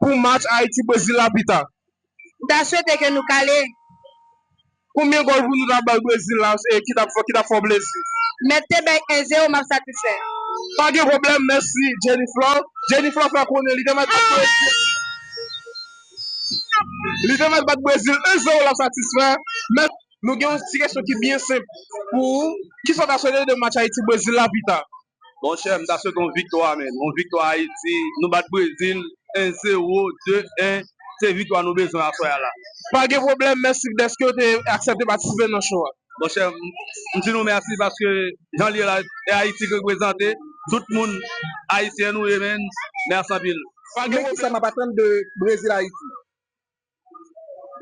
pou match Ayiti Brezil la pita. M ta swete ke nou kale. Konbyen gòl pou nou ta bay Brezil la ki ta fè w plezi? Mèt te bay 1 zero map satisfè. Pa gen pwoblèm, mèsi Jeniflor. Jeniflor fè konnen li te mèt bat Brezil li te mèt bat Brezil 1 zero lap satisfè. Mèt. Nou gen yon ti kesyon ki byen senp pou ou, kisa w ta swete de match Ayiti Brezil la pita? Bon chè m ta swete yon viktwa men yon viktwa ayiti nou bat brezil 1 zero 2 1 se viktwa nou bezwen aswè a la. Pa gen pwoblèm, mèsi dèske ou te aksèpte patisipe nan show a. Bon chè m m di nou mèsi paske jan l ye la e ayiti k reprezante tout moun ayisyen nou ye menn mèsi anpil. Pa gen kisa map atann de brezil ayiti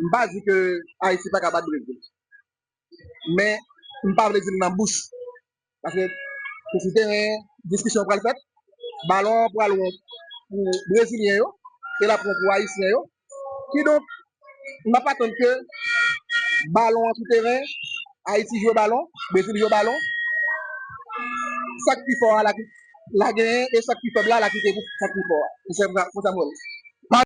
m pa di ke ayiti paka bat brezil men m pa vle di l nan bouch paske se sou teren diskisyon pral fèt balon an pral wont pou brezilyen yo e l ap wont pou ayisyen yo kidonk m ap atann ke balon an sou teren ayiti jwe balon brezil jwe balon sa k pi fò a la genyen e sa k pi fèb la la kite pou sa k pi fò a m se Samuel.